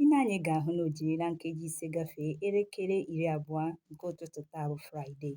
I lee anya ị ga-ahụ na o jirila nkeji ise gafee elekere iri abụọ nke ụtụtụ taa bụ Fraịde.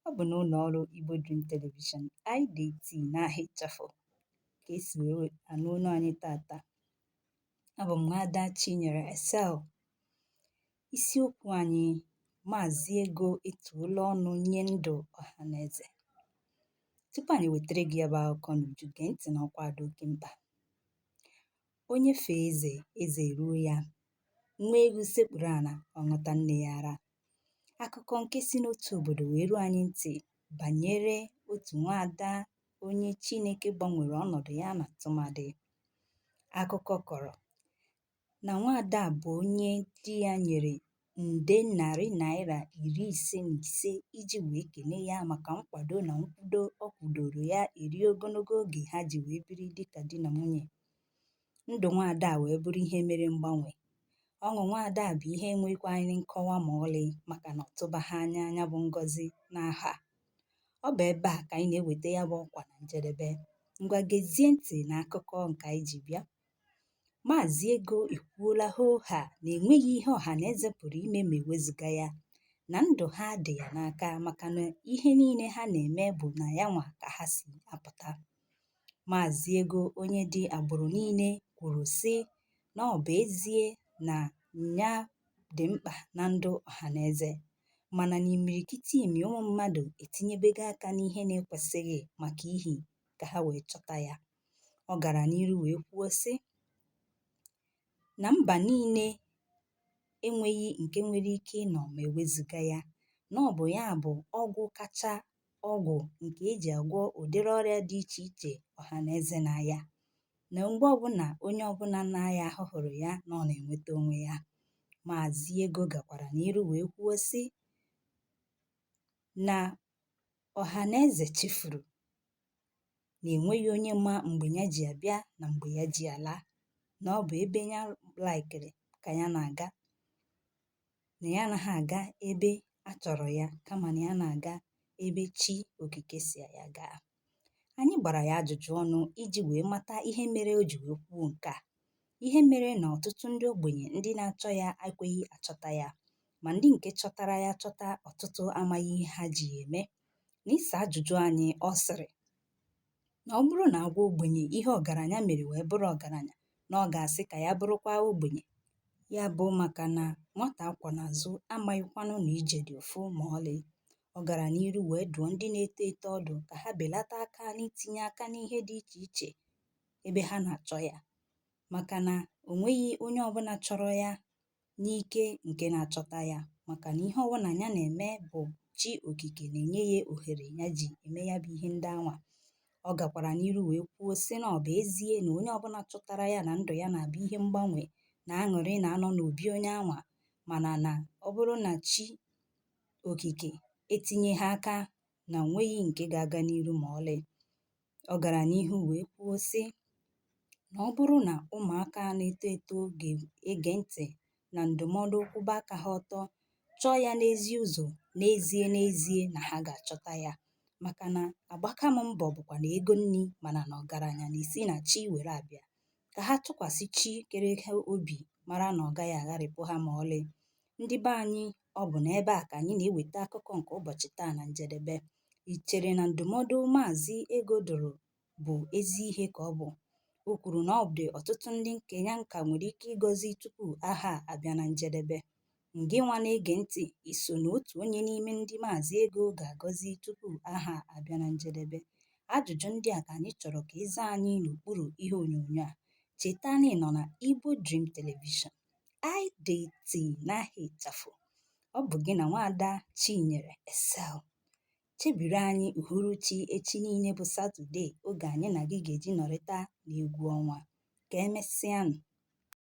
Ọ bụ n'ụlọ ọrụ Igbo Dream Television, IDT, n'aha ịchafụ ka e si wee anụ olu anyị taata. Abụ m Nwaada Chinyere Esel. Isiokwu anyị Maazị Ego etuola ọnụ nye ndụ ọha na eze. Tupu anyị wetara gị ya bụ akụkọ n'uju, gee ntị n'ọkwa dị oke mkpa. Onye fee eze, eze eruo ya. Nwa ewu sekpuru ala, ọ ṅụta nne ya ara. Akụkọ nke si n'otu obodo wee ruo anyị ntị banyere otu nwaada onye Chineke gbanwere ọnọdụ ya na tụmadị. Akụkọ kọrọ na nwaada a bụ onye di ya nyere nde narị naira iri ise na ise iji wee kene ya maka nkwado na nkwudo ọ kwudoro ya eri ogologo oge ha ji wee biri dịka di na nwunye. Ndụ nwaada a wee bụrụ ihe mere mgbanwe. Ọṅụ nwaada a bụ ihe enwekwaghị nkọwa ma ọlị maka na ọ tụbaghị anya ya bụ ngọzi n'aha. Ọ bụ ebe a ka anyị na-eweta ya bụ ọkwa na njedebe. Ngwa gezie ntị na akụkọ nke anyị ji bịa. Maazị Ego ekwuola hoo haa na enweghị ihe ọha na eze pụrụ ime ma ewezuga ya na ndụ ha dị ya n'aka maka na ihe niile ha na-eme bụ na ya nwa ka ha si apụta. Maazị Ego onye dị agbụrụ niile kwuru sị na ọ bụ ezie na nya dị mkpa na ndụ ọha na eze mana na imirikitimi ụmụ mmadụ etinyebego aka n'ihe na-ekwesịghị maka ihi ka ha wee chọta ya. Ọ gara n'iru wee kwuo sị na mba niile enweghị nke nwere ike ịnọ ma ewezuga ya na ọ bụ ya bụ ọgwụ kacha ọgwụ nke e ji agwọ ụdịrị ọrịa dị iche iche ọha na eze na-aya na mgbe ọbụla onye ọbụla na-aya ahụ hụrụ ya na ọ na-enweta onwe ya Maazị Ego gakwara n'iru wee kwuo sị na ọha na eze chefuru na enweghị onye ma mgbe ya ji abịa na mgbe ya ji ala na ọ bụ ebe ya laikiri ka ya na-aga na ya anaghị aga ebe a chọrọ ya kama na ya na-aga ebe chi okike sị ya gaa anyị gbara ya ajụjụ ọnụ iji wee mata ihe mere o ji wee kwuo nke a ihe mere na ọtụtụ ndị ogbenye ndị na-achọ ya ekweghị achọta ya ma ndị nke chọtara ya chọta ọtụtụ amaghị ihe ha ji ya eme N'ịsa ajụjụ anyị, ọ sịrị, Na ọ bụrụ na a gwa ogbenye ihe ọgaranya mere wee bụrụ ọgaranya, na ọ ga-asị ka ya bụrụkwa ogbenye. Ya bụ maka na nwata a kwọ n'azụ amaghịkwanụ na ije dị ụfụ ma ọlị. Ọ gara n'iru wee dụọ ndị na-eto eto ọdụ ka ha belata aka n'itinye aka n'ihe dị iche iche ebe ha na-achọ ya maka na o nweghị onye ọbụla chọrọ ya n'ike nke na-achọta ya maka na ihe ọbụna nya na-eme bụ chi okike na-enye ya ohere nya ji eme ya bụ ihe ndị anwa ọ gakwara n'iru wee kwuo sị na ọ bụ ezie na onye ọbụla chọtara ya na ndụ ya na-abụ ihe mgbanwe na aṅụrị na-anọ n'obi onye anwa mana na ọ bụrụ na chi okike etinyeghị aka na o nweghị nke ga-aga n'iru ma ọlị Ọ gara n'ihu wee kwuo, sị, na ọ bụrụ na ụmụaka na-eto eto ga-ege ntị na ndụmọdụ kwụba aka ha ọtọ, chọọ ya n'ezi ụzọ, n'ezie n'ezie na ha ga-achọta ya. Maka na agbaka m mbọ bụkwanụ ego nni mana na ọgaranya na-esi na chi were abịa. Ka ha tụkwasị chi kere ha obi mara na ọ gaghị agharịpụ ha ma ọlị. Ndị be anyị, ọ bụ n'ebe a ka anyị na-eweta akụkọ nke ụbọchị taa na njedebe. I chere na ndụmọdụ Maazị Ego dụrụ bụ ezi ihe ka ọ bụ? O kwuru na ọ dị ọtụtụ ndị nke nya nka nwere ike ịgọzi tupu ahọ a abịa na njedebe. Ngịnwa na-ege ntị, i so n'otu onye n'ime ndị Maazị Ego ga-agọzi tupu ahọ a abịa na njedebe? Ajụjụ ndị a ka anyị chọrọ ka ị zaa anyị n'okpuru ihe onyonyo a. Cheta na ị nọ na Igbo Dream Television. IDT n'aha ịchafụ ọ bụ gị na nwaada Chinyere Excel chebiri anyị uhuruchi echi niile bụ Satọde oge anyị na gị ga-eji nọrịta n'egwu ọnwa. Ka emesịanụ.